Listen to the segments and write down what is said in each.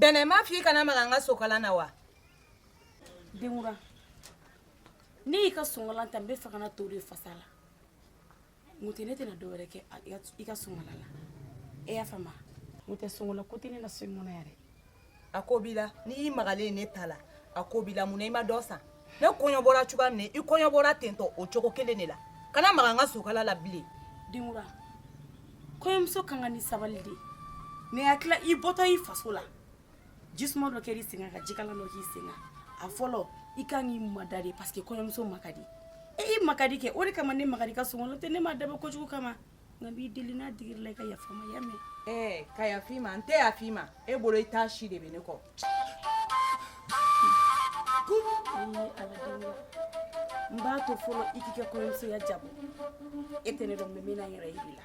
bɛnɛ n m'a f'i kana maga n ka sɔnkalan na wa denkura ne y'i ka sɔnkalan ta n bɛ fɛ ka na to de fasa la mun tɛ ne tɛna dɔ wɛrɛ kɛ i ka sɔnkalan la e y'a faamu mun tɛ sɔnkalan ko tɛ ne na so in kɔnɔ yɛrɛ a ko b'i la n'i magalen ne ta la a ko b'i la mun na i ma dɔ san ne kɔɲɔ bɔra cogoya min na i kɔɲɔ bɔra tentɔ o cogo kelen de la kana maga n ka sɔnkalan la bilen denkura kɔɲɔmuso kan ka ni sabali de ne hakili la i bɔtɔ i faso la jisuma dɔ kɛra i sen kan ka jikalan dɔ k'i sen kan a fɔlɔ i kan k'i mada dɛ parce que kɔɲɔmuso man ka di e i man ka di kɛ o de kama ne magar'i ka sɔnkalan na n'o tɛ ne m'a dabɔ kojugu kama nka n b'i deli n'a digir'i la i ka yafa n ma i y'a mɛn. ɛɛ ka yafa i ma n tɛ yafa i ma e bolo i t'a si de bɛ ne kɔ. n b'a to fɔlɔ i k'i ka kɔɲɔmusoya diyabɔ e tɛ ne dɔn n bɛna n yɛrɛ yir'i la.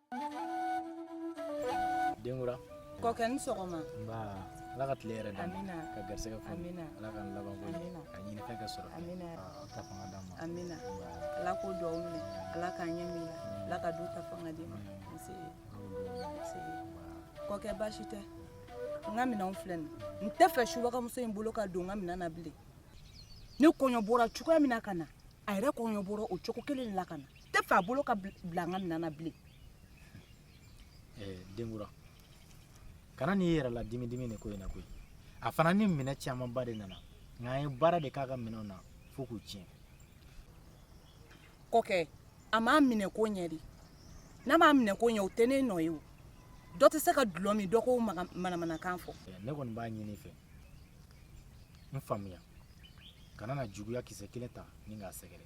denkura kɔkɛ i ni sɔgɔma nba ala ka tile hɛrɛ d'an ma Amina. ka garisɛgɛ fɔ Amina. ala k'an laban ko ɲɛ Amina. ka ɲinifɛn kɛ sɔrɔ Amina. Aa, ka fanga d'an ma amina Nba, ala k'o duwawu minɛ ala k'a ɲɛ amina ala ka du ta fanga d'i ma nse nse kɔkɛ baasi tɛ n ka minɛnw filɛ nin n tɛ fɛ subagamuso in bolo ka don n ka minɛn na bilen ne kɔɲɔ bɔra cogoya min na ka na a yɛrɛ kɔɲɔ bɔra o cogo kelen de la ka na tɛ fɛ a bolo ka bila n ka minɛn na bilen denkura kana n'i yɛrɛ ladimi nin ko in na koyi a fana ni minɛn camanba de nana nka an ye baara de k'a ka minɛnw na fo k'u tiɲɛ kɔkɛ a m'a minɛ ko ɲɛ dɛ n'a m'a minɛ ko ɲɛ o tɛ ne nɔ ye o dɔ tɛ se ka dulɔ min dɔ k'o maga- manamanakan fɔ ne kɔni b'a ɲini i fɛ n faamuya kana na juguya kisɛ kelen ta ni k'a sɛgɛrɛ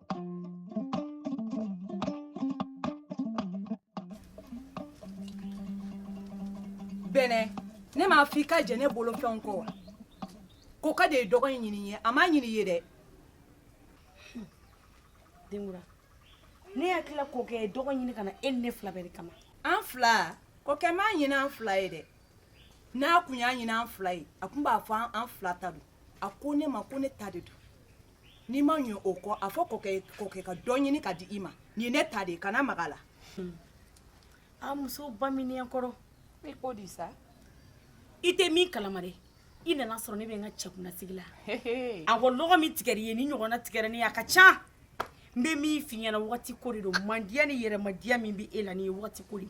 bɛnɛ ne m'a fɔ i ka jɛ ne bolo fɛnw kɔ wa kɔkɛ de ye dɔgɔ in ɲini n ye a m'a ɲini i ye dɛ denkura ne hakili la kɔkɛ dɔgɔ ɲini ka na e ni ne fila bɛɛ de kama an fila kɔkɛ m'a ɲini an fila ye dɛ n'a kun y'a ɲini an fila ye a kun b'a fɔ an fila ta don a ko ne ma ko ne ta de don n'i ma ɲɛ o kɔ a fɔ kɔkɛ ye kɔkɛ ka dɔ ɲini ka di i ma nin ye ne ta de ye kana maga a la a muso baminiyan kɔrɔ i ko di sa i tɛ min kalama dɛ i nana sɔrɔ ne bɛ n ka cɛkunnasigi la a ko lɔgɔ min tigɛra i ye ni ɲɔgɔnna tigɛra ne ye a ka ca n bɛ min f'i ɲɛna wagati ko de don mandiya ni yɛrɛmadiya min bɛ e la nin ye wagati ko de ye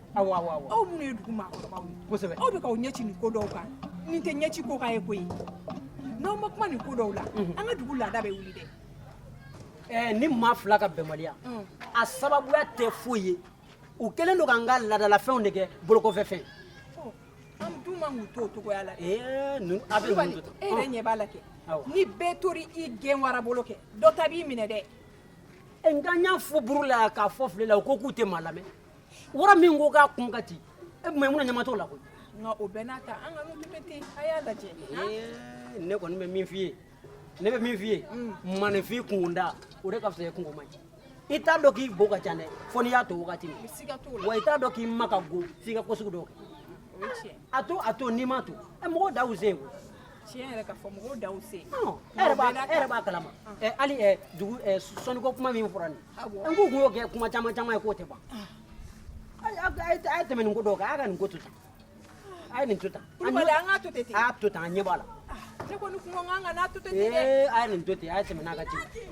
aw aw minnu ye dugu maakɔrɔbaw ye kosɛbɛ aw bɛ k'aw ɲɛci nin ko dɔw kan nin tɛ ɲɛci ko k'a ye koyi n'aw ma kuma nin ko dɔw la mhm. an ka dugu laada bɛ wuli dɛ eh, nin maa fila ka bɛnbaliya mm. a sababuya tɛ foyi ye u kɛlen don k'an ka laadalafɛnw de kɛ bolokɔfɛfɛn oh, an dun man k'u to o cogoya la dɛ eh, a bɛ ninnu to e yɛrɛ ɲɛ b'a la kɛ ni bɛɛ tori i gɛn wara bolo kɛ dɔ ta b'i minɛ dɛ eh, nka n y'a fɔ buru la k'a fɔ file la u ko k'u tɛ maa lamɛn wara min ko k'a kun ka ci e mayimuna ɲama t'o la koyi nka o bɛɛ n'a ta an ka n'u to ten a y'a lajɛ ne kɔni bɛ min f'i ye ne bɛ min f'i ye maaninfin kunda o de ka fisa ye kunko man ɲi i t'a dɔn k'i bo ka ca dɛ fo n'i y'a to wagati min wa i t'a dɔn k'i ma ka go f'i ka ko sugu dɔw kɛ a to a to n'i m'a to mɔgɔw da u sen tiɲɛ yɛrɛ ka fɔ mɔgɔw da u sen e yɛrɛ b'a kalama hali dugu sɔnniko kuma min fɔra nin n k'u kun y'o kɛ kuma caman caman ye k'o tɛ ban a ye tɛmɛ nin ko dɔw kan a y'a ka nin ko to tan a ye nin to tan an k'a to ten a y'a to tan a ɲɛ b'a la ne kɔni kun ko n k'an ka n'a to ten dɛ a ye nin to ten a ye tɛmɛn a kan ten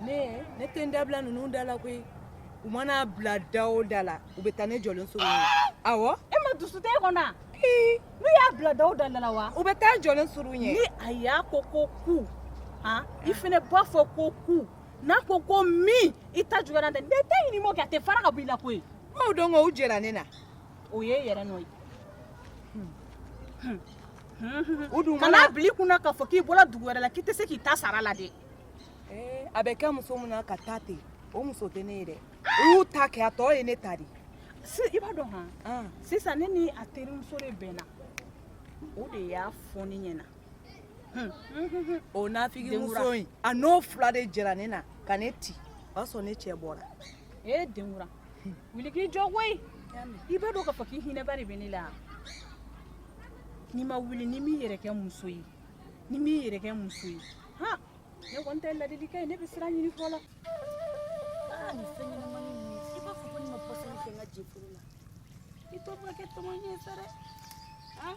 ne ne tɛ n dabila ninnu da la koyi u mana a bila da o da la u bɛ taa ne jɔlen sɔrɔ yen awɔ e ma dusu tɛ e kɔnɔ n'u y'a bila da o da la wa u bɛ taa i jɔlen sɔrɔ yen ni a y'a ko ko ku han i fana b'a fɔ ko ku n'a ko ko min i ta juguyara dɛ ne ta ye n'i ma o kɛ a tɛ fara ka bɔ i la koyi i m'o dɔn ko u jɛra ne na o ye e yɛrɛ nɔ ye kana bila i kun na k'a fɔ k'i bɔra dugu wɛrɛ la k'i tɛ se k'i ta sara la dɛ a bɛ kɛ muso min na ka taa ten o muso tɛ ne ye dɛ u y'u ta kɛ a tɔ ye ne ta de i b'a dɔn han sisan ne ni a terimuso de bɛnna o de y'a fɔ ne ɲɛna o nafigi muso in a n'o fila de jɛra ne na ka ne ti o y'a sɔrɔ ne cɛ bɔra ee denkura wuli k'i jɔ koyi i b'a dɔn k'a fɔ k'i hinɛba de bɛ ne la n'i ma wuli n'i m'i yɛrɛ kɛ muso ye n'i m'i yɛrɛ kɛ muso ye han ne kɔni tɛ ladilikan ye ne bɛ sira ɲini fɔlɔ aa nin fɛn ɲɛnamani ninnu i b'a fɔ ko ne ma pɔsɔni kɛ n ka jeforo la i tɔ bɛ kɛ tɔmɔ ɲɛ sa dɛ han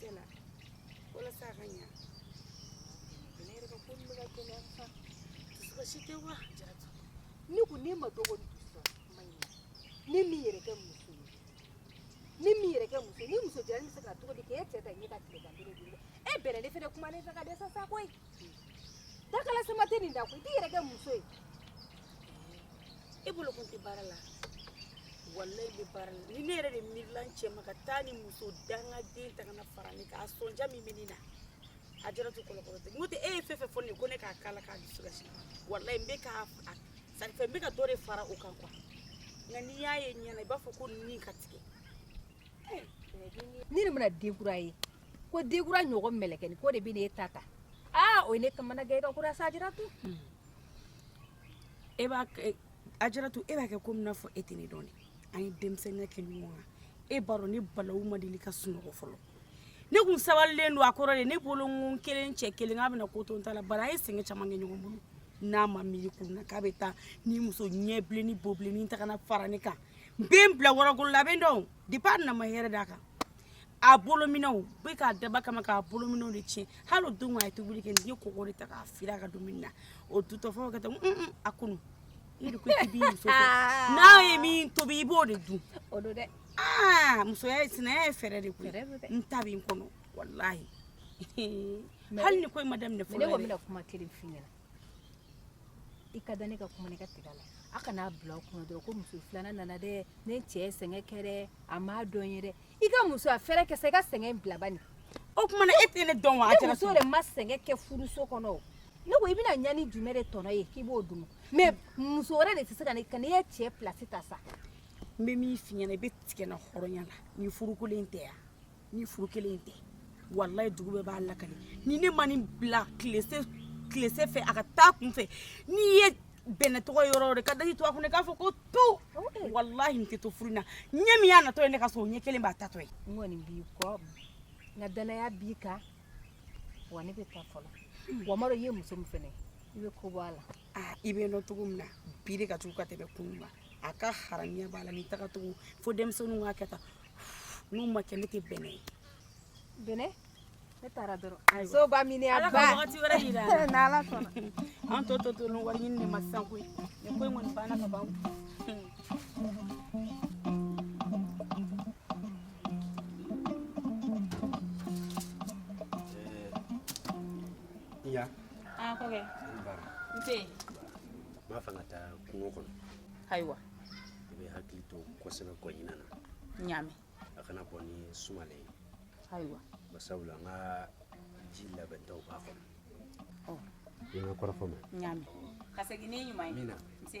Sela walasa a ka ɲa ne yɛrɛ ka ko bɛ ka gɛlɛya sa dusukasi si tɛ wa Ajaratu ne ko ne ma dɔgɔ ni dusu ma ɲa n'e m'i yɛrɛ kɛ muso ye n'e m'i yɛrɛ kɛ muso nin muso jara bɛ se ka cogo di k'e cɛ ta ɲɛ ka tile ka bere di e bɛrɛ ne fana kuma ne fɛ ka dɛsɛ sa koyi dakala sama tɛ nin da koyi i t'i yɛrɛ kɛ muso ye e bolo kun tɛ baara la walayi n bɛ baara la ni ne yɛrɛ de miirila n cɛ ma ka taa nin muso dangaden ta ka na fara ne kan a sɔnja min bɛ ne na Ajaratu kɔlɔkɔlɔ tɛ n'o tɛ e ye fɛn fɛn fɔ ne ye ko ne k'a k'a la k'a dusu kasi walayi n bɛ k'a sanfɛ n bɛ ka dɔ de fara o kan quoi nka n'i y'a ye i ɲɛna i b'a fɔ ko nin ka tigɛ Ni ne mana denkura ye ko denkura ɲɔgɔn mkɛ ko de bɛ ne e ta ta o ne ka gakura sa e b'a Ajaratu e b'a kɛ ko n'a fɔ e tɛ ne dɔn an ye denmisɛnninya kɛ ɲɔgɔn kan e b'a dɔn ne balaw ma deli ka sunɔgɔ fɔlɔ ne kun sabalilen don a kɔrɔ de ne bolo n kelen cɛ kelen k'a bɛna ko to n ta la bari an ye sɛgɛn caman kɛ ɲɔgɔn bolo n'a ma miiri kun na k'a bɛ taa nin muso ɲɛ bilennin bo bilennin ta ka na fara ne kan n bɛ n bila wɔrɔkolo la a bɛ n dɔn depuis a nana n ma hɛrɛ d'a kan a bolominɛnw n bɛ k'a dabɔ a kama k'a bolominɛnw de tiɲɛ hali o don a ye tobili kɛ n ye kɔgɔ de ta k'a fili a ka dumuni na o dutɔfɛnw ka taa a kunu i de ko k'i b'i muso fɛ n'a ye min tobi i b'o de dun o don dɛ aa musoya ye sinaya ye fɛɛrɛ de koyi n ta bɛ n kɔnɔ walahi hali ni ko in ma daminɛ fɔlɔ yɛrɛ ne ko n bɛna kuma kelen f'i ɲɛna i ka da ne ka kuma na i ka tigɛ a la a kana bila kunna dɔrɔn ko muso filanan nana dɛ ne cɛ sɛgɛn kɛ dɛ a m'a dɔn n ye dɛ i ka musoya fɛɛrɛ kɛ sa i ka sɛgɛn bila bani o tuma na e tɛ ne dɔn wa Ajara muso de ma sɛgɛn kɛ furuso kɔnɔ ne ko i bɛna ɲani jumɛn de tɔnɔ ye k'i b'o dun mais muso wɛrɛ de tɛ se ka ne ka ne ye cɛ pilasi ta sa n bɛ min f'i ɲɛna i bɛ tigɛ n na hɔrɔnya la ni furu kelen tɛ yan ni furu kelen tɛ walayi dugu bɛɛ b'a lakali ni ne ma nin bila tilese fɛ a ka taa kun fɛ n'i ye Bɛnɛ tɔgɔ yɔrɔ o yɔrɔ ka daji tu a kun k'a fɔ ko to walayi n tɛ to furu na ɲɛ min y'a natɔ ye ne ka so o ɲɛ kelen b'a taatɔ ye n kɔni b'i kɔ n ka dannaya b'i kan wa ne bɛ taa fɔlɔ hmm. wa maro ye muso min fɛnɛ i bɛ ko bɔ a la i bɛ n dɔn cogo min na bi de ka jugu ka tɛmɛ kunun kan a ka haramiya b'a la n'i tagacogo fo denmisɛnninw k'a kɛ tan n'o ma kɛ ne tɛ Bɛnɛ ye Bɛnɛ ne taara dɔrɔn so ba min a ba wagati wɛrɛ yira an na n'Ala sɔnna an tɔ tɔ to ni wari ɲini de ma sisan koyi nin ko in kɔni banna ka ban Ya. Ah, kɔkɛ. N tɛ yen. N b'a fɛ ka taa kungo kɔnɔ. Ayiwa. i bɛ hakili to kosɛbɛ kɔɲina na ɲaami a kana bɔ ni sumalen ye ayiwa basabula n ka ji labɛntaw b'a kɔnɔ ɔ i ma kɔrɔfɔ mɛn ɲaami ka segin ni ɲuman ye amiina nse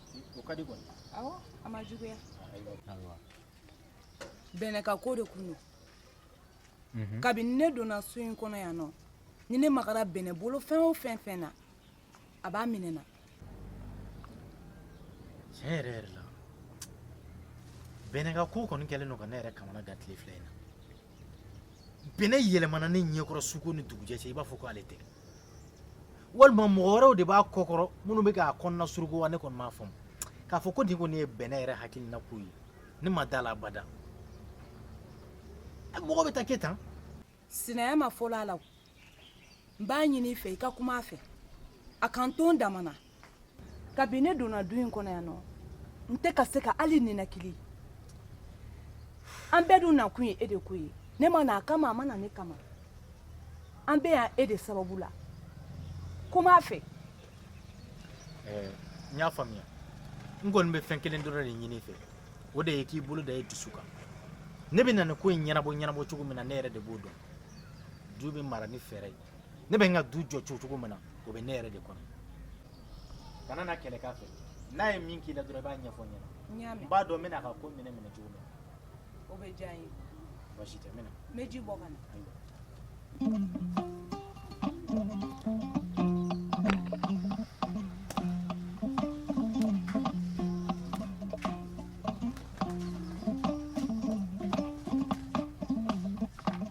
o ka di kɔni awɔ a ma juguya ayiwa bɛnɛ ka ko de kun don kabini ne donna so in kɔnɔ yan nɔ ni ne magara bɛnɛ bolo fɛn o fɛn fɛn na a b'a minɛ n na tiɲɛ yɛrɛ yɛrɛ la bɛnɛ ka ko kɔni kɛlen don ka ne yɛrɛ kamana gan tile fila in na bɛnɛ yɛlɛmana ne ɲɛkɔrɔ suko ni dugujɛ cɛ i b'a fɔ ko ale tɛ walima mɔgɔ wɛrɛw de b'a kɔkɔrɔ minnu bɛ k'a kɔnɔnasuruku wa ne kɔni m'a faamu k'a fɔ ko nin kɔni ye bɛnɛ yɛrɛ hakilina ko ye ne ma da a la abada mɔgɔ bɛɛ t'a kɛ tan sinaya ma fɔlɔ a la o n b'a ɲini i fɛ i ka kuma a fɛ a ka n to n damana kabini ne donna du in kɔnɔ yan nɔ n tɛ ka se ka hali ninakili an bɛɛ dun nakun ye e de ko ye ne ma na a kama a ma na ne kama an bɛ yan e de sababu la kuma a fɛ n y'a faamuya n kɔni bɛ fɛn kelen dɔrɔn de ɲini i fɛ o de ye k'i bolo da i dusu kan ne bɛ na nin ko in ɲɛnabɔ ɲɛnabɔ cogo min na ne yɛrɛ de b'o dɔn du bɛ mara ni fɛɛrɛ ye ne bɛ n ka du jɔ jɔ cogo min na o bɛ ne yɛrɛ de kɔnɔ kana na kɛlɛ k'a fɛ n'a ye min k'i la dɔrɔn i b'a ɲɛfɔ n ɲɛna n b'a dɔn n bɛna a ka ko minɛ minɛ cogo min na o bɛ diya n ye baasi tɛ n bɛna n bɛ ji bɔ ka na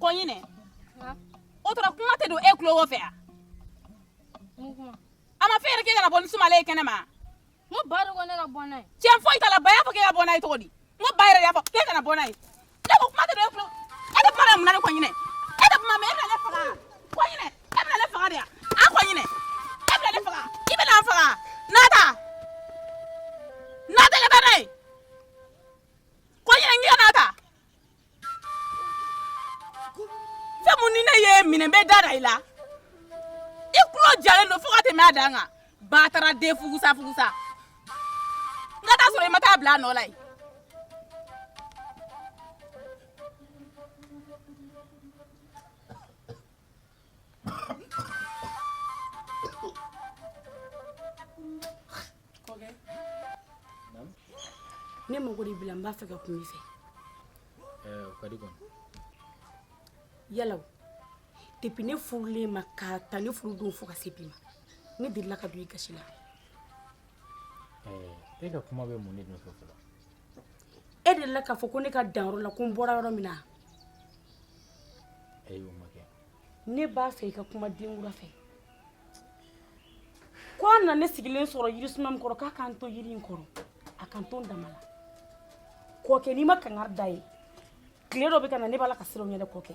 Kɔɲinɛ o tora kuma tɛ don e tulo wo fɛ a a m'a fɔ yɛrɛ k'e kana bɔ ni sumalen ye kɛnɛ ma n ko ba de ko ne ka bɔ n'a ye tiɲɛ foyi t'a la ba y'a fɔ k'e ka bɔ n'a ye cogo di n ko ba yɛrɛ y'a fɔ k'e kana bɔ n'a ye Ne ko kuma tɛ don e tulo e tɛ kuma na mun na ne kɔɲinɛ e tɛ kuma mɛn e bɛna ne faga kɔɲinɛ e bɛna ne faga de yan a kɔɲinɛ e bɛna ne faga i bɛna n faga n'a ta n'a ta ka taa n'a ye kɔɲinɛ n k'i ka n'a ta fɛn mun ni ne y'i minɛ n bɛ da da i la i tulo jalen don fo ka tɛmɛ a dan kan bataraden fugusa fugusa n ka taa sɔrɔ i ma taa bila a nɔ la yen ne mago de b'i la n b'a fɛ ka kuma i fɛ o ka di kɔni yala o depi ne furulen i ma ka ta ne furu don fo ka se bi ma ne delila ka don i gasi la e ka kuma bɛ mun de nɔfɛ fɔlɔ e delila k'a fɔ ko ne ka danyɔrɔ la ko n bɔra yɔrɔ min na ayi o ma kɛ ne b'a fɛ i ka kuma denkura fɛ ko a nana ne sigilen sɔrɔ yirisuma min kɔrɔ k'a k'an to yiri in kɔrɔ a k'an to an dama la kɔkɛ n'i ma kangari d'a ye tile dɔ bɛ ka na ne b'a la ka siran o ɲɛ dɛ kɔkɛ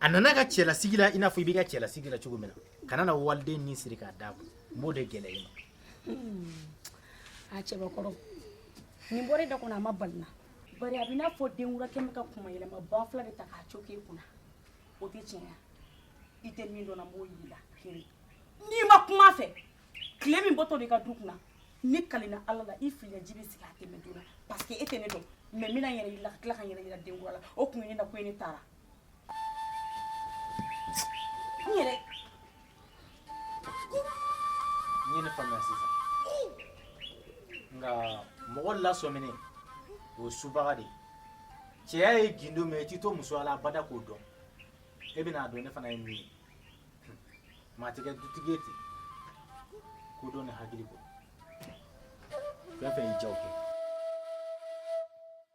a nana a ka cɛlasigi la i n'a fɔ i b'i ka cɛlasigi la cogo min na kana na waliden ni siri k'a d'a kun n b'o de gɛlɛya i ma a cɛbakɔrɔ nin bɔra e da kɔnɔ a ma bala n na bari a b'i n'a fɔ denkura kɛlen bɛ ka kuma yɛlɛma banfula de ta k'a coke i kunna o tɛ tiɲɛ ye i tɛ min dɔn n na n b'o yir'i la kiri n'i ma kuma a fɛ tile min bɔtɔ de ka du kunna ne kalina ala la i fili ji bɛ sigi a tɛmɛ donna parce que e tɛ ne dɔn mais n bɛna n yɛrɛ yira ka tila ka n yɛrɛ yira denkura la o kun ye ne nakun ye ne taara sɔmine o subaga de cɛya ye gundo min ye i t'i to musoya la abada k'o dɔn e bɛna a dɔn ne fana ye min ye maa tɛ kɛ dutigi ye ten kodɔn ni hakili kɔ fɛn fɛn y'i jaw kɛ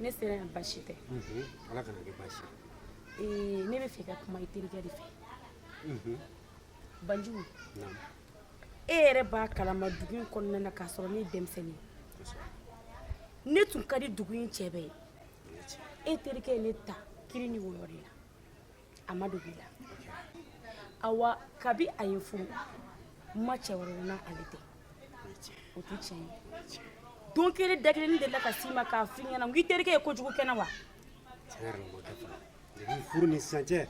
ne sera yan basi tɛ ala kana kɛ basi ee ne bɛ fɛ ka kuma i terikɛ de fɛ banjugu e yɛrɛ b'a kalama dugu in kɔnɔna na k'a sɔrɔ ne ye denmisɛnnin ne tun ka di dugu in cɛ bɛɛ ye e terikɛ ye ne ta kiri ni wɔyɔ de la a ma dogo i la awa kabi a ye n furu n ma cɛ wɛrɛ n'ale tɛ o tɛ tiɲɛ ye don kelen da kelen ne delila ka s'i ma k'a f'i ɲɛna ko i terikɛ ye kojugu kɛ n na wa tiɲɛ yɛrɛ la o ma kɛ fɔlɔ depuis furu ni sisan cɛ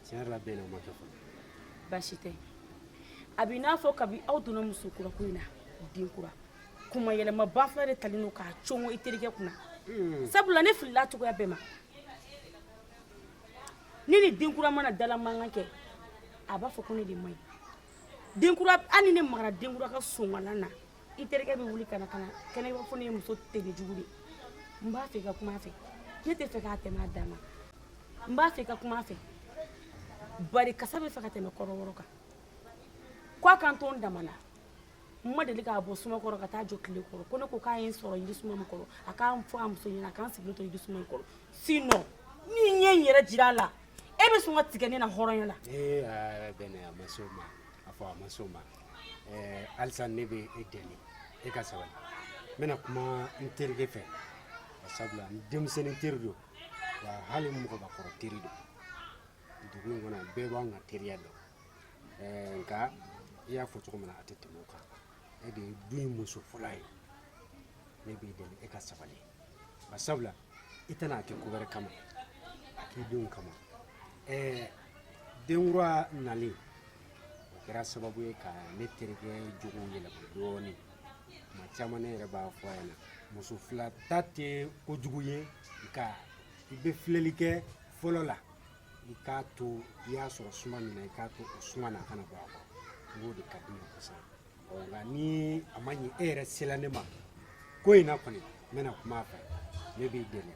tiɲɛ yɛrɛ la bɛn na o ma kɛ fɔlɔ baasi tɛ a b'i n'a fɔ kabi aw donna muso kura ko in na denkura kuma yɛlɛma banfula de talen don k'a congo i terikɛ kunna sabula ne filila cogoya bɛɛ ma ne ni denkura mana dala mankan kɛ a b'a fɔ ko ne de man ɲi denkura hali ni ne magara denkura ka sonkalan na i terikɛ bɛ wuli ka na ka na kɛnɛ b'a fɔ ne ye muso tere jugu de n b'a fɛ i ka kuma a fɛ ne t'a fɛ k'a tɛmɛ a dan na n b'a fɛ i ka kuma a fɛ bari kasa bɛ fɛ ka tɛmɛ kɔrɔwɔrɔ kan ko a ka n to n dama na n ma deli ka bɔ suma kɔrɔ ka taa jɔ tile kɔrɔ ko ne ko k'a ye n sɔrɔ yiri suma min kɔrɔ a k'a fɔ a muso ɲɛna a ka n sigilen to yiri suma in kɔrɔ sinon ni n ye n yɛrɛ jira a la e bɛ sɔn ka tigɛ ne na hɔrɔnya la. ee aa bɛnɛ a ma s'o ma a fɔ a ma s'o ma ɛɛ halisa ne bɛ e deli e ka sabali n bɛna kuma n terikɛ fɛ sabula n denmisɛnnin teri don wa hali mɔgɔbakɔrɔ teri don dugu in kɔnɔ bɛɛ b'an ka teriya dɔn. nka i y'a fɔ cogo min na a tɛ tɛmɛ o kan e de ye du in muso fɔlɔ ye ne b'i deli e ka sabali ba sabula i tɛna a kɛ ko wɛrɛ kama a k'i denw kama ɛɛ denkura nalen o kɛra sababu ye ka ne terikɛ jogow yɛlɛma dɔɔnin tuma caman ne yɛrɛ b'a fɔ a ɲɛna muso fila ta tɛ kojugu ye nka i bɛ filɛli kɛ fɔlɔ la i k'a to i y'a sɔrɔ suma min na i k'a to o suma na a kana bɔ a kɔrɔ o de ka di n ye kosɛbɛ ɔ nka ni a ma ɲɛ e yɛrɛ sela ne ma ko in na kɔni n bɛna kuma a fɛ ne b'i deli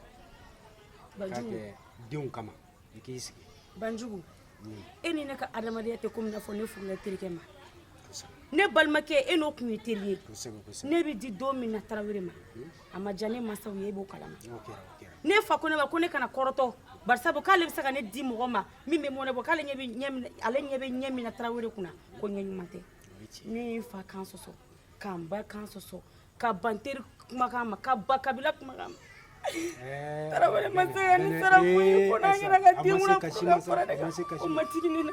k'a kɛ denw kama i k'i sigi banjugu hmm. e ni ne ka adamadenya tɛ komi n'a fɔ ne furula i terikɛ ma ne balimakɛ e n'o tun ye teri ye ne bɛ di don min na tarawele ma hmm. a ma diya ne mansaw ye e b'o kalama ne fa ko ne ma ko ne kana kɔrɔtɔ bari sabu k'ale bɛ se ka ne di mɔgɔ ma min bɛ mɔnɛ bɔ k'ale ɲɛ bɛ ɲɛ min ale ɲɛ bɛ ɲɛ min na tarawele kunna ko ɲɛ ɲuman tɛ ne ye n fa kan sɔsɔ ka n ba kan sɔsɔ ka ban teri kumakan ma ka ban kabila kumakan ma eh, tarawele ma se ka ne sara foyi ko n'a kɛra ka denkura fara ne kan o ma digi ne na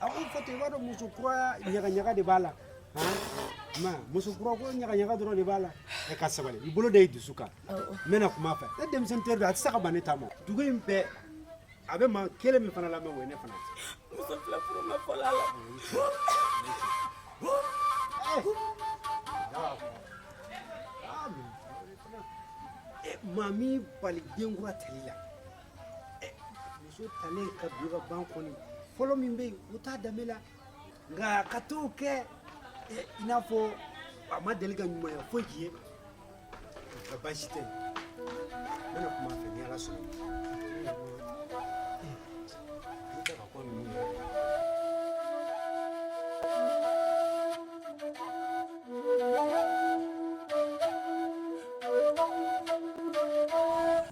A ko fɔ i b'a dɔn muso kura ɲagaɲaga de b'a la ma muso kura ko ɲagaɲaga dɔrɔn de b'a la e ka sabali i bolo da i dusu kan n bɛna kuma a fɛ ne denmisɛnnin teri don a tɛ se ka ban ne ta ma dugu in bɛɛ a bɛ maa kelen min fana lamɛn o ye ne fana ye muso fila furu ma fɔlɔ a la maa m'i bali denkura tali la muso talen ka don ka ban kɔni fɔlɔ min bɛ yen o t'a danbe la nka ka t'o kɛ i n'a fɔ a ma deli ka ɲumanya foyi k'i ye nka baasi tɛ n bɛna kuma a fɛ ni ala sɔnna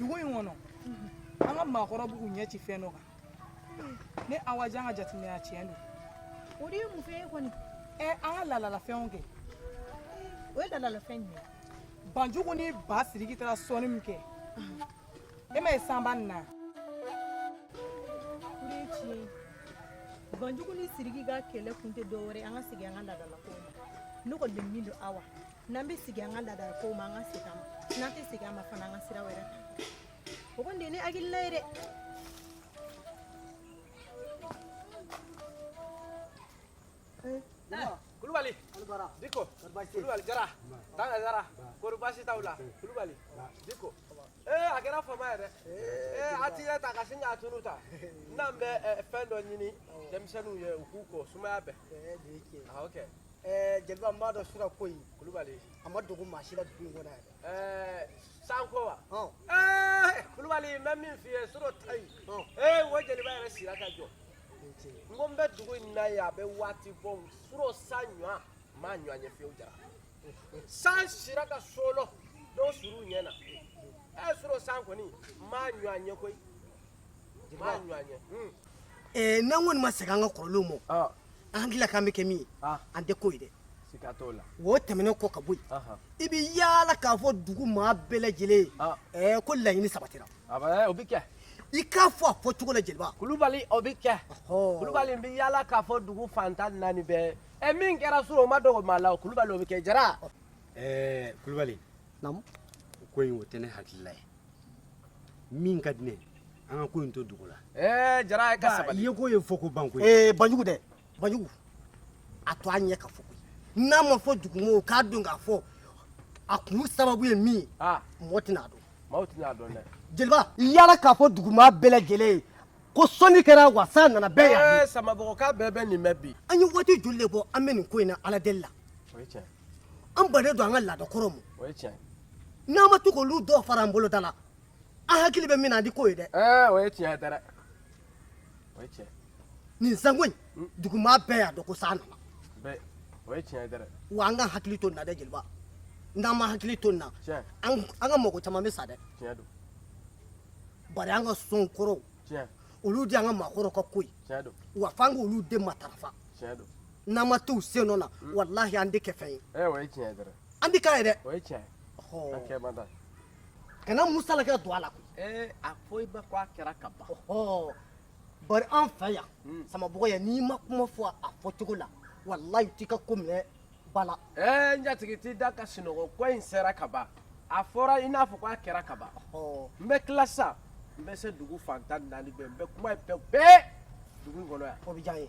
dugu in kɔnɔ an ka maakɔrɔw b'u ɲɛ ci fɛn dɔ kan ne awa jan ka jateminɛ la tiɲɛ don o de ye mun fɛn ye kɔni ɛ an ka laadalafɛnw kɛ o ye laadalafɛn jumɛn banjugu ni ba siriki taara sɔnni min kɛ e ma ye sanba nin na o de ye tiɲɛ ye banjugu ni siriki ka kɛlɛ kun tɛ dɔ wɛrɛ an ka segin an ka laadalakow ma ne kɔni bɛ min dɔn awa n'an bɛ segin an ka laadalakow ma an ka segin a ma n'an tɛ segin a ma fana an ka sira wɛrɛ ta o kɔni de ye ne hakilina ye dɛ kulubali diko kulubali jara tanga jara kori baasi t'aw la kulubali diko ee a kɛra fama yɛrɛ ee a t'i yɛrɛ ta ka sin ka tunun tan n'an bɛ fɛn dɔ ɲini denmisɛnninw ye u k'u ko sumaya bɛɛ ok jeliba n b'a dɔn suro ko in kulubali a ma dogo maa si la dugu in kɔnɔ yan sanko wa kulubali n bɛ min f'i ye suro ta yen ee o jeliba yɛrɛ sira ka jɔ n ko n bɛ dugu in na yan a bɛ waati bɔ n suro san ɲɔgɔn m'a ɲɔgɔn ye fiyewu jara san sira ka solo dɔw suru ɲɛ na ɛ suro san kɔni m'a ɲɔgɔn ye koyi m'a ɲɔgɔn ye. ɛɛ eh, n'an kɔni ma segin an ka kɔrɔlenw ma ah. an hakili la k'an bɛ kɛ min ye ah. an tɛ k'o ye dɛ. siga t'o la. o tɛmɛnen kɔ ka bɔ yen i bɛ yaala k'a fɔ dugu maa bɛɛ lajɛlen ye ah. eh, ko laɲini sabatira. A bɛ o bɛ kɛ i k'a fɔ a fɔ cogo la jeliba kulubali o bɛ kɛ kulubali n bɛ yaala k'a fɔ dugu fan tan naani bɛɛ ɛ min kɛra suro o ma dogo maa la kulubali o bɛ kɛ jara ɛɛ kulubali ko in o tɛ ne hakilila ye min ka di ne an ka ko in to dugu la ɛɛ jara ka sabali i ye ko ye fɔ ko banko banjugu dɛ banjugu a to a ɲɛ ka fɔ n'a ma fɔ dugumɔgɔ k'a dɔn k'a fɔ a kun sababu ye min ye ah. mɔgɔ tɛna a dɔn maaw tɛna a dɔn dɛ jeliba yaala k'a fɔ dugumaa bɛɛ lajɛlen ye ko sɔnni kɛra wa san nana bɛɛ yan eh, samabɔgɔka bɛɛ bɛ nin mɛn bi an ye waati joli de bɔ an bɛ nin ko in na ala deli la an bannen don an ka laada kɔrɔw ma n'an ma to k'olu dɔw fara an bolo da la an hakili bɛ min na an tɛ k'o ye dɛ eh, o ye tiɲɛ ye dɛ o ye tiɲɛ nin sanko in hmm? dugumaa bɛɛ y'a dɔn ko san nana bɛɛ o ye tiɲɛ ye dɛ wa an ka hakili to nin na dɛ jeliba n'an ma hakili to nin na an ka mɔgɔ caman bɛ sa dɛ tiɲɛ don bari an ka sɔn kɔrɔw tiɲɛ olu de y'an ka maakɔrɔw ka ko ye tiɲɛ don wa f'an k'olu de matarafa tiɲɛ don n'an ma t'u sen nɔ na hmm. walahi an tɛ kɛ fɛn ye ɛ o ye tiɲɛ ye dɛ an tɛ k'a ye dɛ o ye tiɲɛ ye an kɛ man da kana musalaka don a la koyi ɛɛ a fɔ i ba ko a kɛra ka ban bari an fɛ yan hmm. samabɔgɔ yan n'i ma kuma fɔ a fɔcogo la walayi u t'i ka ko minɛ ba la ɛɛ n jatigi t'i da ka sunɔgɔ ko in sera ka ban a fɔra i n'a fɔ k'a kɛra ka ban n bɛ tila sisan n bɛ se dugu fan tan ni naani bɛɛ n bɛ kuma ye bɛɛ bɛɛ dugu in kɔnɔ yan o bɛ diya n ye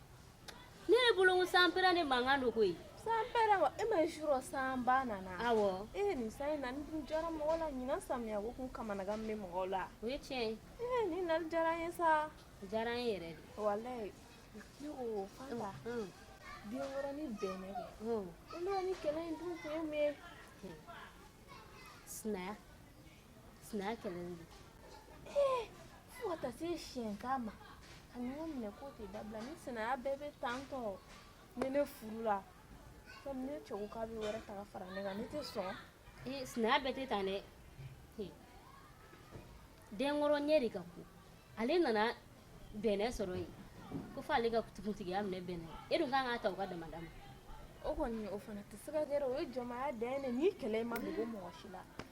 ne bolo ko sanpɛrɛn mankan don koyi san e ma surɔ sanba nana awɔ ni san in na jara mɔgɔ la ɲinan samiya ko kun kamanagan bɛ mɔgɔ la o ye tiɲɛ ye ni na diyara ye sa diyara in yɛrɛ de ne ko fa la denkɔrɔ ni bɛnɛ kɛ ni kɛlɛ in dun kun ye mun sina Sina kɛlɛ de fo ka taa se siyɛnkan ma ka ɲɔgɔn minɛ ko tɛ dabila ni sinaya bɛɛ bɛ tan tɔ ne ne furula komi ne cɛw ka bɛ wɛrɛ ta fara ne kan ne tɛ sɔn sinaya bɛɛ tɛ tan dɛ denkɔrɔ ɲɛ de ka go ale nana bɛnɛ sɔrɔ yen ko fo ale ka kuntigiya minɛ bɛnɛ e dun kan ka ta u ka damada ma o kɔni o fana tɛ se ka kɛ o ye jɔnmaya dan ye nin kɛlɛ ma dogo mɔgɔ si la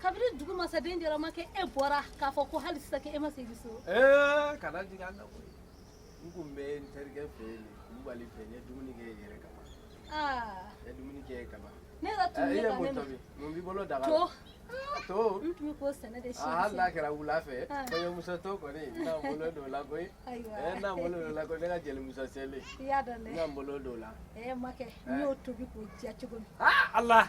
kabini dugu masaden jɛra makɛ e bɔra k'a fɔ ko hali sisan e ma segin so ee kana jigin an na koyi n tun bɛ n terikɛ fɛ yen kulubali fɛ n ye dumuni kɛ yɛrɛ ka ban n ye dumuni kɛ ka ban ne yɛrɛ tun bɛ ka ne ma mun b'i bolo daga to to n tun bɛ k'o sɛnɛ de si hali n'a kɛra wula fɛ kɔɲɔmuso to kɔni n na n bolo don o la koyi n na n bolo don o la koyi ne ka jelimuso selen i y'a dɔn dɛ n na n bolo don o la ɛɛ makɛ n y'o tobi k'o diya cogo min ala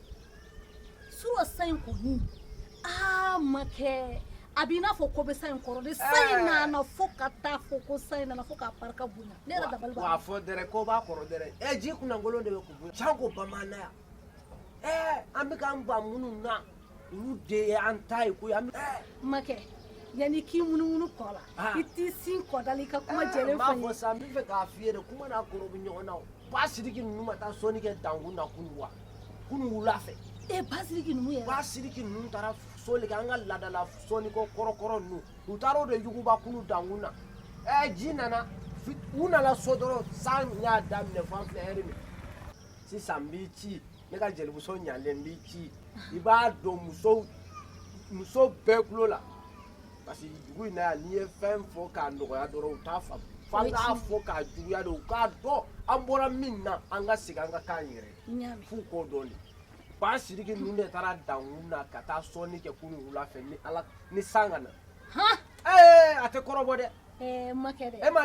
Surɔ san in kɔni aa makɛ a b'i n'a fɔ ko bɛ san in kɔrɔ de san in nana fo ka taa fɔ ko san in nana fo k'a barika bonya ne yɛrɛ dabali banna. wa fɔ dɛrɛ ko b'a kɔrɔ dɛrɛ ɛ eh, ji kunnakolon de bɛ kun bonya can ko bamananya ɛ eh, an bɛ k'an ban minnu na olu de ye an ta ye koyi an bɛ. Eh. makɛ yanni k'i munumunu ko la ah. i t'i sin ko da la i ka kuma jɛlen fɔ n ye. n b'a fɔ sa n b'a fɛ k'a f'i ye de kuma n'a kɔrɔ bɛ ɲɔgɔn na o. Ba siriki ninnu ma taa sɔnni kɛ dankun na kunu wa kunu wula fɛ e ba siriki ninnu yɛrɛ ba siriki ninnu taara sɔnni kɛ an ka laadala sɔnniko kɔrɔkɔrɔ ninnu u taara o de yuguba kunu dankun na ɛ ji nana u nana so dɔrɔn san y'a daminɛ fo an filɛ hɛrɛ min sisan n b'i ci ne ka jelimuso ɲalen n b'i ci i b'a don musow muso bɛɛ tulo la parce que dugu in na yan n'i ye fɛn fɔ k'a nɔgɔya dɔrɔn u t'a faamu f'an k'a fɔ k'a juguya de u k'a dɔn an bɔra min na an ka segin an ka kan yɛrɛ f'u k'o dɔn de ba siriki ninnu de taara dankun na ka taa sɔnni kɛ kunu wula fɛ ni ala ni san ka na ee a tɛ kɔrɔbɔ dɛ e ma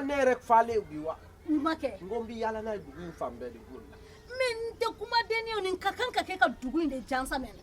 ne yɛrɛ falen bi wa makɛ n ko n bɛ yaala n'a ye dugu in fan bɛɛ de b'o la mais n tɛ kumadenni ye nin ka kan ka kɛ ka dugu in de jansa mɛnɛ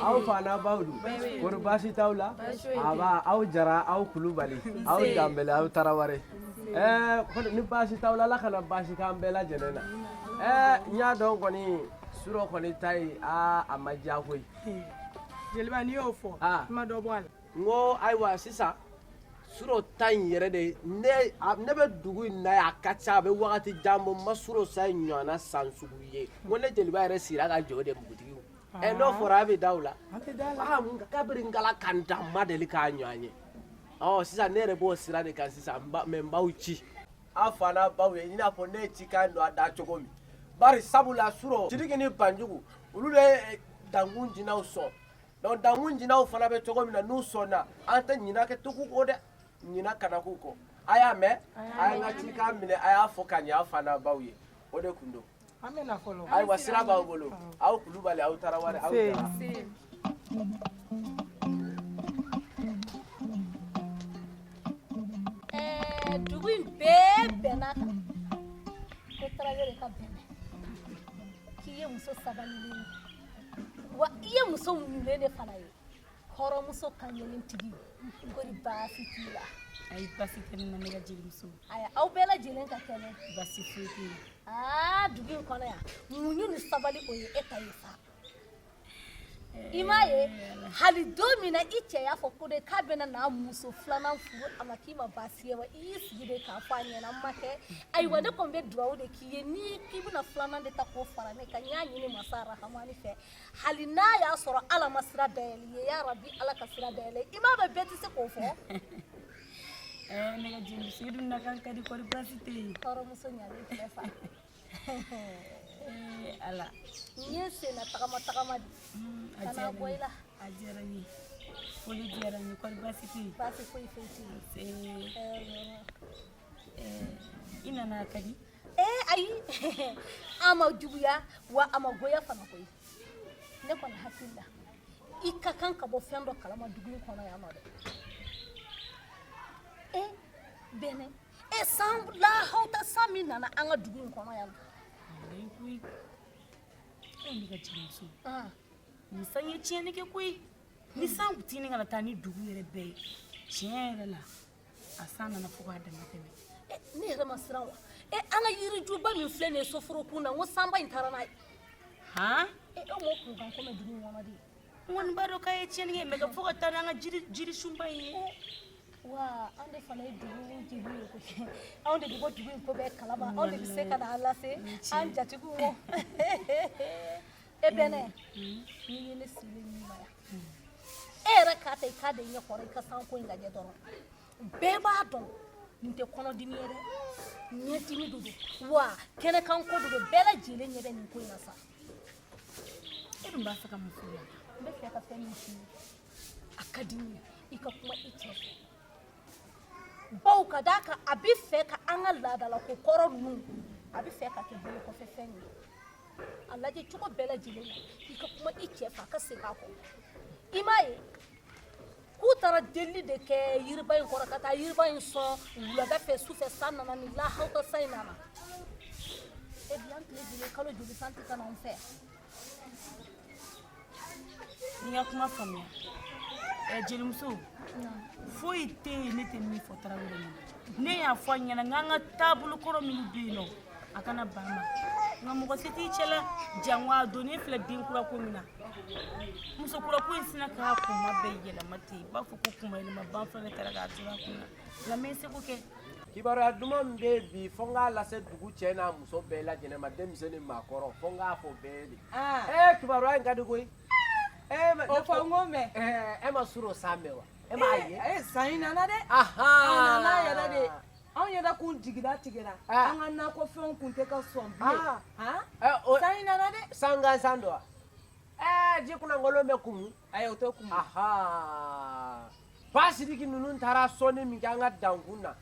aw fa n'aw baw don kɔri baasi t'aw la aba aw jara aw kulubali aw danbɛlɛ aw tarawele ɛɛ ni baasi t'aw la ala kana baasi k'an bɛɛ lajɛlen na ɛɛ n y'a dɔn kɔni surɔ kɔni ta ye aa a ma diya koyi jeliba n'i y'o fɔ i ma dɔ bɔ a la n ko ayiwa sisan surɔ ta in yɛrɛ de ye ne a- ne bɛ dugu in na yan a ka ca a bɛ wagati jan bɔ n ma surɔ san in ɲɔgɔnna san sugu ye n ko ne jeliba yɛrɛ sigira ka jɔ de npogotigiw ɛ n'o fɔra a bɛ da o la An tɛ da la. aa n ka- kabiri ngala ka n da n ma deli k'a ɲɔgɔn ye ɔ sisan ne yɛrɛ b'o sira de kan sisan n ba- mɛ n b'aw ci aw fa n'aw baw ye i n'a fɔ ne ye cikan don a da cogo min bari sabula surɔ sidiki ni banjugu olu bɛ eh, dankun jinaw sɔn Donc dankun jinaw fana bɛ cogo min na n'u sɔnna an tɛ ɲina kɛ tugu dɛ ɲina kana k'u kɔ a y'a mɛn a ye n ka cikan minɛ a y'a fɔ ka ɲɛ aw fa n'aw baw ye o de kun don ayiwa sira b'aw bolo aw kulubali aw tarawele aw jara dugu in bɛɛ bɛnna kan ko tarawele ka bɛnɛ k'i ye muso sabali wa i ye muso muɲunen de fana ye hɔrɔnmuso kaɲɛlentigi kɔri baasi t'i la ayi baasi tɛ ne na ne ka jelimuso aya aw bɛɛ lajɛlen ka kɛnɛ baasi foyi tɛ yen aa dugu in kɔnɔ yan muɲu ni sabali o ye e ta ye sa i m'a ye hali don min na i cɛ y'a fɔ ko de k'a bɛna n'a muso filanan furu a ma k'i ma baasi ye wa i y'i sigi de k'a fɔ a ɲɛna n ma kɛ ayiwa ne kɔni bɛ dugawu de k'i ye n'i k'i bɛna filanan de ta k'o fara ne kan n y'a ɲini masa rahamani fɛ hali n'a y'a sɔrɔ ala ma sira dayɛlɛ i ye ya rabi ala ka sira dayɛlɛ i m'a mɛn bɛɛ tɛ se k'o fɔ eh, ne ka jelimuso i dun nakan ka di kɔri baasi tɛ yen hɔrɔnmuso ɲalen filɛ fa eh, ala n ye senna tagama tagama di hmm, ka na bɔ i la a diyara n ye foli diyara n ye kɔri baasi tɛ yen baasi foyi foyi tɛ yen eh, eh, i nana ka di eh ayi a ma juguya wa a ma goya fana koyi ne kɔni hakili la i ka kan ka bɔ fɛn dɔ kalama dugu in kɔnɔ yan nɔ dɛ e bɛnɛ e san lahawta san min nana an ka dugu in kɔnɔ yan koyi ne ka jelimuso nin san ye tiɲɛni kɛ koyi ni san tini kana taa ni dugu yɛrɛ bɛɛ ye tiɲɛ yɛrɛ la a san nana fo k'a dama tɛmɛ eh, ne yɛrɛ ma siran wa e eh, an ka yirijuba min filɛ nin ye soforokun na n ko sanba in taara n'a ye han e dɔw m'o kunkan ko mɛn dugu in kɔnɔ dɛ n kɔni b'a dɔn k'a ye tiɲɛni kɛ mɛ k'a fɔ ka taa n'an ka jirisunba in ye eh, wa anw de fana ye dugu jeliw ye koyi anw de bɛ bɔ dugu in ko bɛɛ kalama anw de bɛ se ka n'a lase an jatigiw ma e bɛnɛ n'i ye ne sigilen ɲuman yan e yɛrɛ k'a ta i k'a da i ɲɛ kɔrɔ i ka san ko in lajɛ dɔrɔn bɛɛ b'a dɔn nin tɛ kɔnɔdimi ye dɛ ɲɛdimi de don wa kɛnɛkan ko de don bɛɛ lajɛlen ɲɛ bɛ nin ko in na sa e dun b'a fɛ ka mun fɔ n ye n bɛ fɛ ka fɛn min f'i ye a ka di n ye i ka kuma i cɛ fɛ bawo ka d'a kan a bɛ fɛ ka an ka laadalako kɔrɔ ninnu a bɛ fɛ k'a kɛ bolo kɔfɛ fɛn ye a lajɛ cogo bɛɛ lajɛlen na i ka kuma i cɛ fɛ a ka segin a kɔ i m'a ye k'u taara delili de kɛ yiriba in kɔrɔ ka taa yiriba in sɔn wulada fɛ su fɛ san nana ni lahawuta san in nana e bi an tile joli kalo joli san tɛ ka na anw fɛ N y'i ka kuma faamuya ɛ jelimuso foyi tɛ yen ne tɛ min fɔ tarawele ma ne y'a fɔ a ɲɛna n k'an ka taabolo kɔrɔ minnu bɛ yen nɔ a kana ban ma nka mɔgɔ se t'i cɛ la jango a donnen filɛ den kura ko min na muso kura ko in sina k'a kunma bɛɛ yɛlɛma ten i b'a fɔ ko kunma yɛlɛma banfula de tara k'a turu a kun na Nka n bɛ n seko kɛ. Kibaruya duman bɛ yen bi fo n k'a lase dugu cɛ n'a muso bɛɛ lajɛlen ma denmisɛn ni maakɔrɔ fo n k'a fɔ bɛɛ ye de. Aa! Ee kibaruya in ka di koyi. Ee ma O fɔ n k'o mɛn. Ɛɛ e ma surɔ san mɛn wa? E m'a ye? Ee ee san in nana dɛ. Ahan! A nana yɛrɛ de. Anw yɛrɛ kun jigilatigɛra. Aa! An ka nakɔfɛnw kun tɛ ka sɔn bilen. Aa! Han! Ɛ o San in nana dɛ. San gansan don wa? Ɛɛ ji kunlankolon bɛ kumu. Ayi o tɛ kumu ba sidiki ninnu taara sɔnni min kɛ an ka dankun na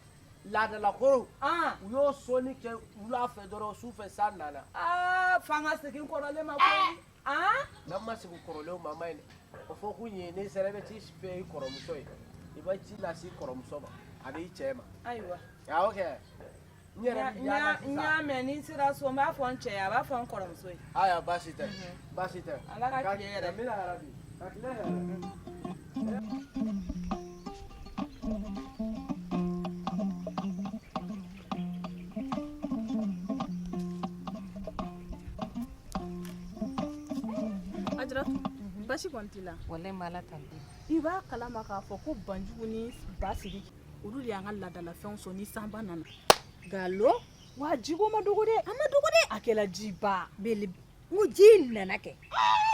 laadalako u y'o sɔnni kɛ wula fɛ dɔrɔn su fɛ san nana f'an ka segin kɔrɔlen ma n'an ma segin kɔrɔlen ma a man ɲi o fɔ kun ye n'i sera i bɛ t'a fɔ i kɔrɔmuso ye i bɛ ci lase i kɔrɔmuso ma ani i cɛ ma ayiwa kɛ y'a mɛn ni n sera so n b'a fɔ n cɛ ye a b'a fɔ n kɔrɔmuso ye ayiwa baasi tɛ baasi tɛ ala ka tile hɛɛrɛ amiina yarabi ka tile hɛɛrɛ Ajaratu baasi kɔni t'i la walayi n b'ala tanu i b'a kalama k'a fɔ ko banjugu ni basiri olu de y'an ka laadalafɛnw sɔn ni sanba nana nkalon wa jiko man dɔgɔ dɛ a man dɔgɔ dɛ a kɛla jiba bele n ko ji in nana kɛ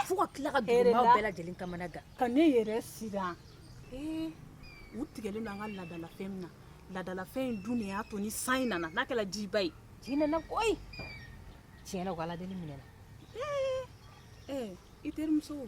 fo ka tila ka dugumaw bɛɛ lajɛlen kamana gan ka ne yɛrɛ siran ee u tigɛlen don an ka laadalafɛn min na laadalafɛn in dun de y'a to ni san in nana n'a kɛla jiba ye ji nana koyi tiɲɛ na u ka aladeli minɛna ee ee i terimuso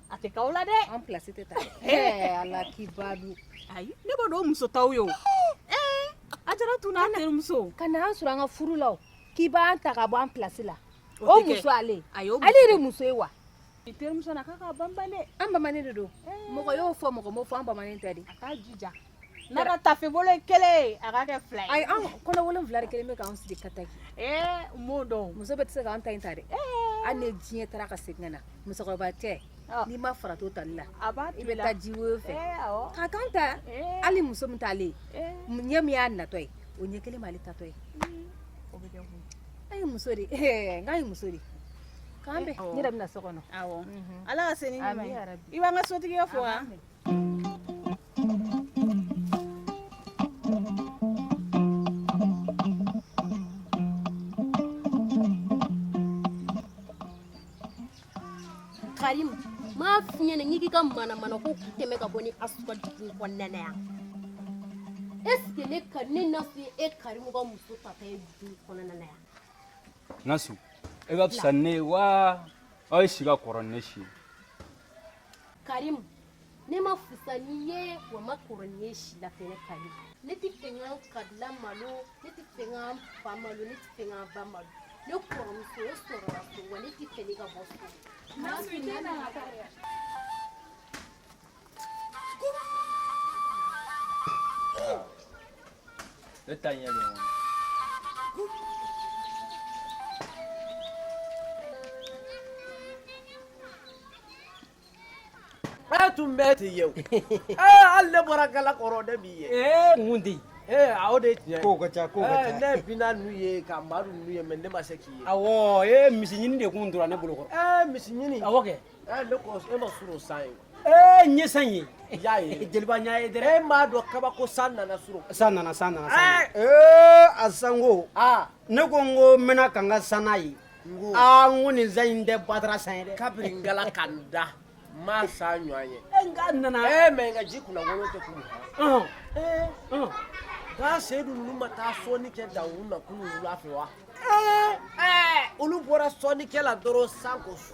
a tɛ k'aw la dɛ an place tɛ ta ɛɛ ala k'i ba dun ayi ne b'o dɔn o muso t'aw ye o ɛɛ a jara tun n'a terimuso ka na an sɔrɔ an ka furu la o k'i b'an ta ka bɔ an place la o muso ale ale yɛrɛ muso ye wa i terimuso na k'a ka banban dɛ an bamanen de don mɔgɔ y'o fɔ mɔgɔ m'o fɔ an bamanen tɛ de a k'a jija N'a ka taafe bolo kelen a ka kɛ fila ayi anw kɔnɔ wolon wolonwula kelen bɛ k'an sigi ka ta n m'o dɔn muso bɛɛ tɛ se k'an ta ta dɛ hali ni diɲɛ taara ka segin na musokɔrɔba tɛ n'i ma fara to tali la a i bɛ taa ji woyo fɛ ka kan ta hali muso min taalen ɲɛ min y'a natɔ ye o ɲɛ kelen b'ale taatɔ ye a ye muso de n'a ye muso de k'an bɛn n yɛrɛ bɛna na so kɔnɔ ala ka segin i b'an ka sotigi fo wa Karim m'a f'i ɲɛna n'i k'i ka manamanako k'i tɛmɛ ka bɔ nasu kan dugu in kɔnɔna na yan est ce que ne ka ne nasu ye e karimu ka muso tata ye dugu in kɔnɔna na yan nasu e ka fisa ni ne ye wa e si ka kɔrɔ ni ne si ye karimu ne man fusa n'i ye wa n man kɔrɔ n'i ye si la fɛnɛ Karim ne tɛ fɛ n ka kabila malo ne tɛ fɛ n ka fa malo ne tɛ fɛ n ka ba malo ne kɔrɔmuso o sɔrɔla so wa ne tɛ fɛ ne ka bɔ so ne ta ɲɛ bɛ A tun bɛ ten ye hali ne bɔra gala kɔrɔ de b'i ye ee mun di ee o de tiɲɛ ko ka ca ko ne bɛna n'u ye ka amadu n'u ye mais ne ma se k'i ye awɔ misi ɲini de kun tora ne bolo kɔrɔ ee misi ɲini awɔ kɛ e ma surɔ san ye ee n ye san ye n y'a ye jeliba n y'a ye dɛ e m'a dɔn kabako san nana surɔ san nana ee a sanko aa ne ko n ko n bɛna ka n ka san ye aa n ko nin san in tɛ batara san ye dɛ kabiri Ngala ka n da n m'a san ɲɔgɔn ye e n k'a nana ee mais n ka ji kunnawolo tɛ kun ɔn ee ɔn k'a seyidu ninnu ma taa sɔnni kɛ dawu na kunu wula fɛ wa ee ɛɛ olu bɔra sɔnnikɛ la dɔrɔn san ko su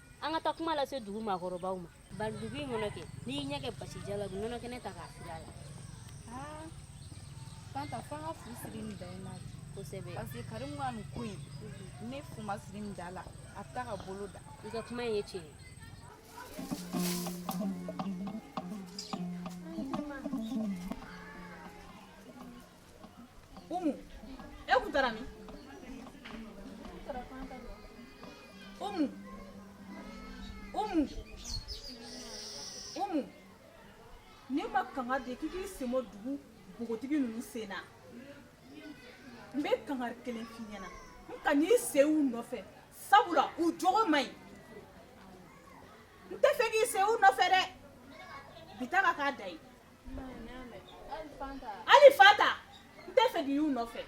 an ka taa kuma lase dugu maakɔrɔbaw ma bari dugu in kɔnɔ kɛ n'i y'i ɲɛ kɛ basi jalan u nɔnɔ kɛnɛ ta k'a fili a la aa fanta fo an ka fu siri nin da in na bi kosɛbɛ parce que karimu ka nin ko in ni fu ma siri nin da la a bɛ taa ka bolo dan i ka kuma in ye tiɲɛ ye Umu e tun taara min Umu Umu Umu ne ma kangari d'e k'i k'i sen bɔ dugu bogotigi ninnu sen na n bɛ kangari kelen f'i ɲɛna n kan'i sen u nɔfɛ sabula u jogo man ɲi n tɛ fɛ k'i sen u nɔfɛ dɛ bi ta ka k'a dan ye hali fanta n tɛ fɛ k'i y'u nɔfɛ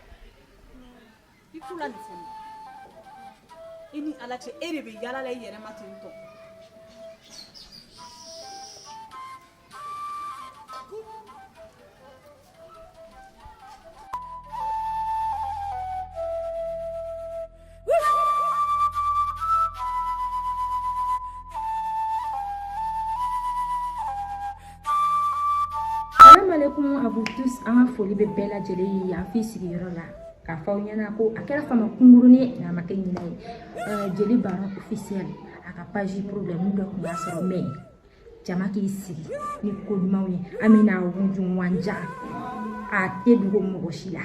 i t'u la nafolo i ni ala cɛ e de bɛ yala la i yɛrɛ ma ten tɔ kum à vous tous an ka foli bɛ bɛɛ lajɛlen ye yan f'i sigiyɔrɔ la k'a fɔ aw ɲɛna ko a kɛra fama kunkurunin ye nka a ma kɛ ɲinɛ ye jeli baro officiel a ka page problème dɔ tun y'a sɔrɔ mais jama k'i sigi ni ko ɲumanw ye an bɛna wunjunwanja a tɛ dogo mɔgɔ si la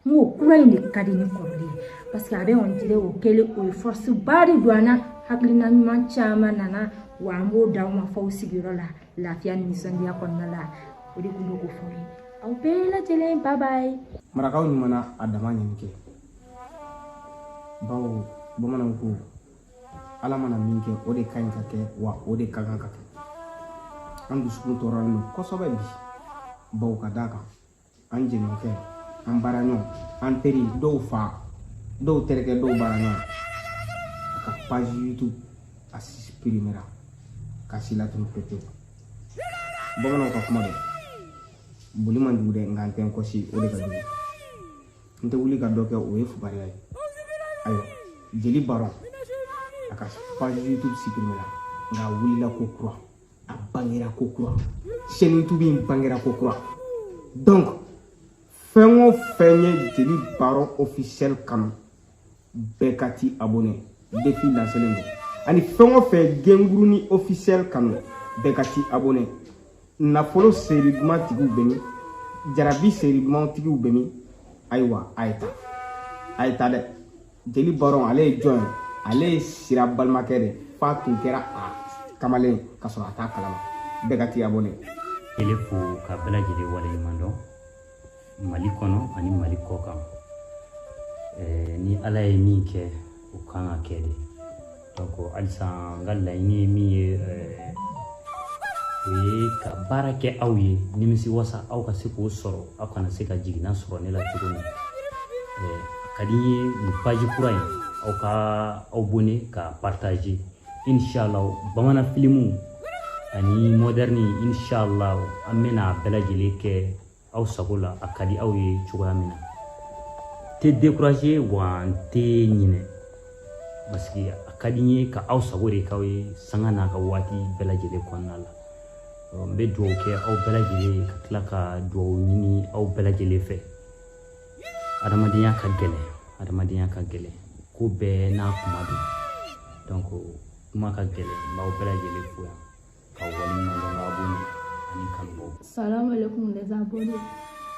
n ko kura in de ka di ni kɔrɔlen ye parce que a bɛ on dirait o kɛlen o ye force ba de don an na hakilina ɲuman caman nana wa an b'o d'aw ma f'aw sigiyɔrɔ la lafiya ni nisɔndiya kɔnɔna la o de tun bɛ k'o fɔ ye aw bɛɛ lajɛlen bye bye marakaw ɲuman na a dama ɲini kɛ bawo bamananw ko ala mana min kɛ o de ka ɲi ka kɛ wa o de ka kan ka kɛ an dusukun tɔɔrɔlen don kosɛbɛ bi bawo ka d'a kan an jɛɲɔgɔnkɛ an baaraɲɔgɔn an teri dɔw fa dɔw terikɛ dɔw baaraɲɔgɔn a ka page youtube a suprimera ka si latunu pepewu bamananw ka kuma don boli man jugu dɛ nka n tɛ n kɔsi o de ka jugu n tɛ wuli ka dɔ kɛ o ye fugariya ye ayiwa jeli baro a ka page youtube suprimera nka a wulila ko kura a bangera ko kura chaîne youtube in bangera ko kura donc fɛn o fɛn ye jeli baro officiel kanu bɛɛ ka t'i abonné défi lancelen don ani fɛn o fɛn genguruni officiel kanu bɛɛ ka t'i abonné nafolo série duman tigiw bɛ min jarabi série duman tigiw bɛ min ayiwa a ye taa a ye taa dɛ jeli baron ale ye jɔn ye ale ye sira balimakɛ de f'a tun kɛra a kamalen ka sɔrɔ a t'a kalama bɛɛ ka tiya bɔlen ele fo ka bɛɛ lajɛlen waleɲuman dɔn mali kɔnɔ ani mali kɔ kan ni ala ye min kɛ o kan ka kɛ de halisa n ka laɲini ye min ye o ye ka baara kɛ aw ye nimisi wasa aw ka se k'o sɔrɔ aw kana se ka jiginna sɔrɔ ne la cogo min ka di n ye nin paji kura in aw ka abonné ka partager inshallah bamanan filimu ani modɛrni inshallah an bɛna bɛɛ lajɛlen kɛ aw sago la a ka di aw ye cogoya min na tɛ décourager wa n tɛ ɲinɛ parce que a ka di n ye ka aw sago de k'aw ye sanga n'a ka waati bɛɛ lajɛlen kɔnɔna la n bɛ dugawu kɛ aw bɛɛ lajɛlen ye ka tila ka dugawu ɲini aw bɛɛ lajɛlen fɛ adamadenya ka gɛlɛn adamadenya ka gɛlɛn ko bɛɛ n'a kuma don donc kuma ka gɛlɛn n b'aw bɛɛ lajɛlen fo yan ka waleɲuman dɔn ka bɔ ani kanubaw salamu alaikum les abonnés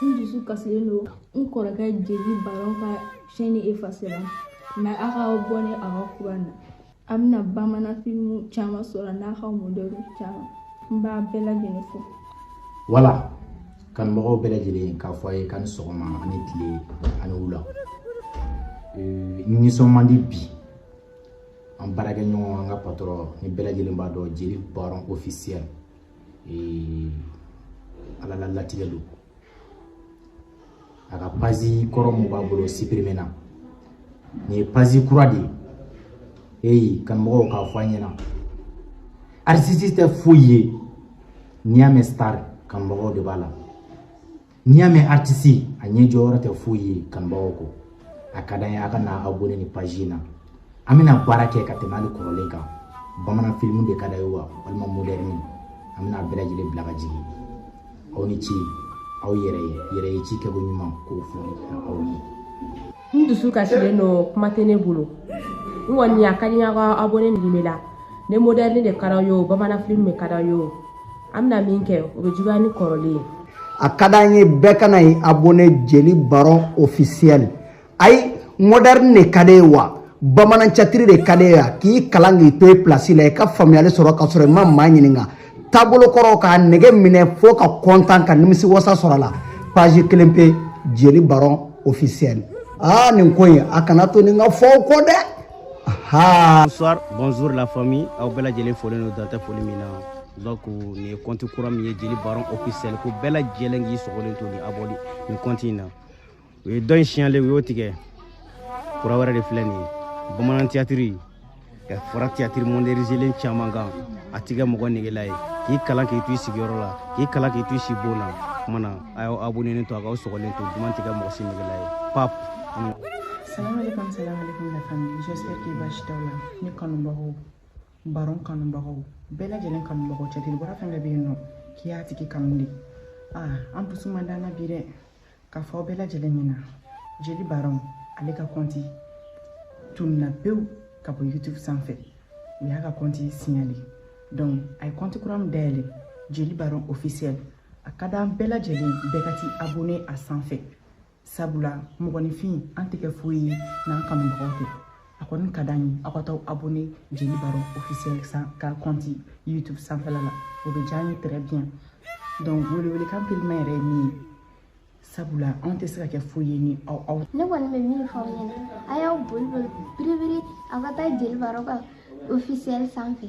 n dusu kasilen don n kɔrɔkɛ jeli baron ka chaîne efasera mais a k'abonné a ka kura na a bɛna bamanan filimu caman sɔrɔ n'a ka modɛrniw caman n b'a bɛɛ lajɛlen fo voilà kanumɔgɔw bɛɛ lajɛlen k'a fɔ a ye k'a ni sɔgɔma a ni tile a ni wula nisɔn man di bi an baarakɛɲɔgɔn an ka patɔrɔn ni bɛɛ lajɛlen b'a dɔn jeli baron officiel ala la latigɛ don a ka pazi kɔrɔ mun b'a bolo sipirimena nin ye pazi kura de ye eyi kanumɔgɔw k'a fɔ a ɲɛna artisi tɛ foyi ye n'i y'a mɛn star kanumɔgɔw de b'a la n'i y'a mɛn artisi a ɲɛ jɔyɔrɔ tɛ foyi ye kanubagaw kɔ a ka d'an ye a ka na abonné nin paji in na an bɛna baara kɛ ka tɛmɛ hali kɔrɔlen kan bamanan filimu de ka d'a ye wa walima modɛrni an bɛna bɛɛ lajɛlen bila ka jigin aw ni ce aw yɛrɛ yɛrɛ ye ci kɛko ɲuman k'o fɔ aw ye n dusu kasilen don kuma tɛ ne bolo n kɔni a ka di n ye a ka abonné nin la ni modɛrni de ka d'aw ye o bamanan filimu de ka d'aw ye o an bɛna min kɛ o bɛ juguya ni kɔrɔlen ye a ka d'an ye bɛɛ ka na ye abonné jeli baron officiel ayi modɛrni de ka d'e wa bamanan catiri de ka d'e wa k'i kalan k'i to i pilasi la i ka faamuyali sɔrɔ ka sɔrɔ i ma maa ɲininka taabolo kɔrɔw k'a nɛgɛ minɛ fo ka kɔntan ka nimisi wasa sɔrɔ a la page kelen pe jeli baron officiel aa nin ko in a kana to nin ka fɔ aw kɔ dɛ bonsoir bonjour la famille aw bɛɛ lajɛlen folen don dan tɛ foli min na donc nin ye kɔnti kura min ye jeli baron officiel ko bɛɛ lajɛlen k'i sɔgɔlen to ni abonné nin kɔnti in na u ye dɔ in signalé u y'o tigɛ kura wɛrɛ de filɛ nin ye bamanan tiyatiri ka fara tiyatiri monderizelen caman kan a t'i kɛ mɔgɔ negela ye k'i kalan k'i to i sigiyɔrɔ la k'i kalan k'i to i sibon na kuma na a y'aw abonenen to a k'aw sɔgɔlen to duman t'i kɛ mɔgɔ si negela ye pap Salam alaikum, salam alaikum la famille. J'espère que basi t'aw la. Ne kanubagaw, baron kanubagaw, bɛɛ lajɛlen kanubagaw c'est-à-dire bɔra fɛn bɛɛ bɛ yen nɔ k'i y'a tigi kanu de. Ah, an dusu man d'an na bi dɛ. k'a fɔ aw bɛɛ lajɛlen ɲɛna jeli baron ale ka kɔnti tununa pewu ka bɔ youtube sanfɛ u y'a ka kɔnti signalé donc a ye kɔnti kura min dayɛlɛ jeli baron officiel a ka d'an bɛɛ lajɛlen bɛɛ ka t'i abonné a sanfɛ sabula mɔgɔninfin an tɛ kɛ foyi ye n'an kanubagaw tɛ a kɔni ka d'an ye aw ka taa abonné jeli baron officiel ka kɔnti youtube sanfɛla la o bɛ diya an ye très bien donc welewelekan gɛlɛnman yɛrɛ ye nin ye sabula anw tɛ se ka kɛ foyi ye ni aw aw ne kɔni bɛ min fɔ aw ɲɛna a y'aw boli boli biribiri aw ka taa jeli baron ka officiel sanfɛ